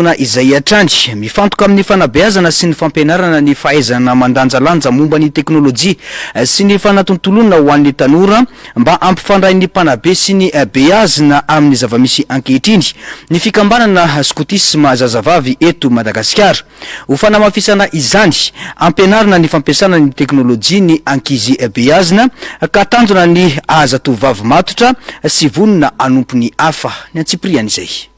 fotoana izay hatrany. Mifantoka amin'ny fanabeazana sy ny fampianarana ny fahaizana mandanjalanja momba ny teknolojia sy ny fanatontoloana ho an'ny tanora mba hampifandrain'ny mpanabe sy ny beazina amin'ny zava-misy ankehitriny ny fikambanana skotisma zazavavy eto Madagasikara. Ho fanamafisana izany, ampianarina ny fampiasana ny teknolojia ny ankizy beazina ka tanjona ny hahazatovovavy matotra sy vonona hanompo ny hafa. Ny antsipiriany izay.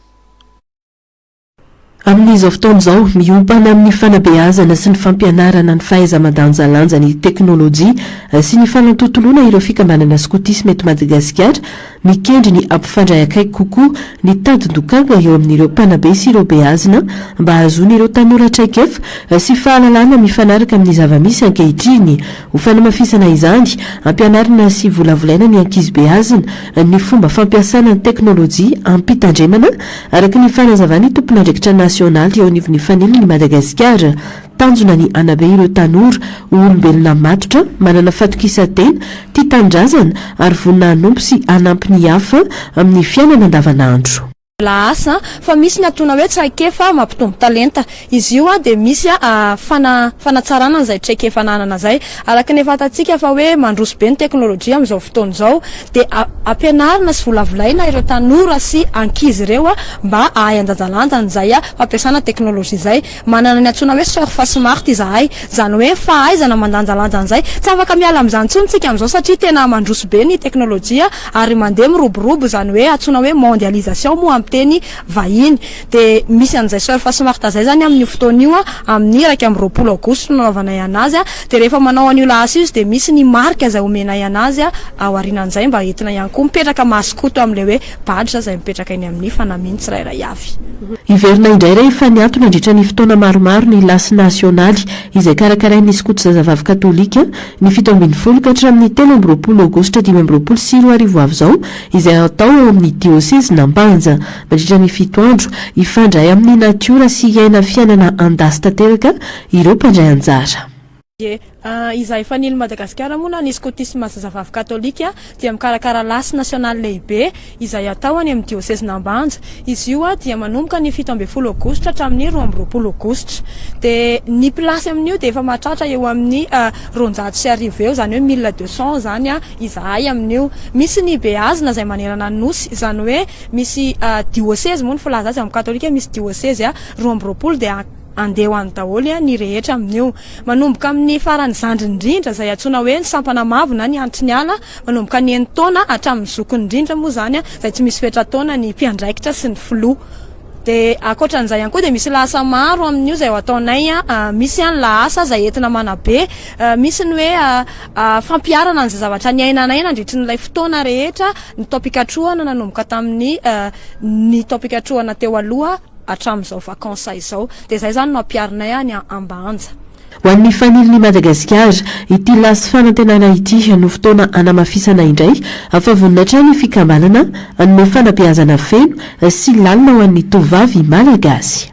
Amin'izao fotoana izao, miompana amin'ny fanabeazana sy ny fampianarana ny fahaiza-mandanjalanja ny teknolojia sy ny fanantontoloana ireo fikambanana skotisma eto Madagasikara, mikendry ny hampifandray akaiky kokoa ny tadin-dokanga eo amin'ireo mpanabe sy ireo beazina mba hahazoan'ireo tanora traikefa sy fahalalana mifanaraka amin'ny zava-misy ankehitriny. Ho fanamafisana izany, ampianarina sy volavolaina ny ankizy beazina ny fomba fampiasana ny teknolojia amim-pitandremana Araka ny fanazavan'ny tompon'andraikitra nasionaly eo anivon'ny Fanilin'i Madagasikara, tanjona ny hanabe ireo tanora ho olombelona matotra, manana fatokisan-tena, tia tanindrazana ary vonona hanompo sy hanampy ny hafa amin'ny fiainana andavanandro. Lahasa fa misy ny antsoina hoe traikefa mampitombo talenta. Izy io dia misy fana fanatsarana an'izay traikefa ananana izay. Araka ny efa fantatsika fa hoe mandroso be ny teknolojia amin'izao fotoana izao dia a ampianarina sy volavolaina ireo tanora sy ankizy ireo mba hahay handanjalanja an'izay fampiasana teknolojia izay. Manana ny antsoina hoe surf smart izahay, izany hoe fahaizana mandanjalanja an'izay. Tsy afaka miala amin'izany intsony isika amin'izao satria tena mandroso be ny teknolojia ary mandeha miroborobo izany hoe antsoina hoe mondialisation moa amin'ny teny vahiny. Dia misy an'izay Soeur Fasimarta izay izany amin'io fotoana io amin'ny iraika amby roapolo aogositra no nanaovanay an'azy dia rehefa manao an'io lahasa io izy dia misy ny marika izay omenay an'azy ao aorianan'izay mba entina ihany koa mipetraka masokoto amin'ilay hoe badge izay mipetraka eny amin'ny fanamiany tsirairay avy. Hiverina indray rehefa niato nandritra ny fotoana maromaro ny Lasy Nasionaly izay karakarain'ny skoto zazavavy katolika ny fito ambin'ny folo ka hatramin'ny telo amby roapolo aogositra dimy amby roapolo sy roa arivo avy izao izay hatao ao amin'ny diosezin'Ampanja. Mandritra ny fito andro, hifandray amin'ny natiora sy hiaina fiainana an-dasy tanteraka ireo mpandray anjara. Dia izaho efa nilo Madagasikara moa na ny skotisma zazavavy katolika dia mikarakara lasy nasionaly lehibe izay hatao any amin'ny diosezin'Ambanja. Izy io dia manomboka ny fito ambin'ny folo aogositra hatramin'ny roa amby roapolo aogositra. Dia ny mpilasy amin'io dia efa mahatratra eo amin'ny roanjato sy arivo eo, izany hoe mille deux cents izany izahay amin'io. Misy ny beazina izay manerana ny nosy, izany hoe. Misy diosezy moa ny filaza azy amin'ny katolika misy diosezy roa amby roapolo dia handeha ho any daholo ny rehetra amin'io. Manomboka amin'ny faran'ny zandriny indrindra izay antsoina hoe ny sampana mavo na ny antry ny ala manomboka ny enin-taona hatramin'ny zokiny indrindra moa izany izay tsy misy fetra-taona ny mpiandraikitra sy ny filoha. Dia ankoatran'izay ihany koa dia misy lahasa maro amin'io izay ataonay misy ny lahasa izay entina manabe misy ny hoe fampiharana an'izay zavatra niainanay nandritry ny ilay fotoana rehetra ny taom-pikatrohana nanomboka tamin'ny ny taom-pikatrohana teo aloha hatramin'izao vacances izao dia izay izany no ampiharinay any Ambanja. Ho an'ny Fanilin'i Madagasikara, ity lasy fanantenana ity no fotoana hanamafisana indray fa vonona hatrany ny fikambanana hanome fanabeazana feno sy lalina ho an'ny tovovavy Malagasy.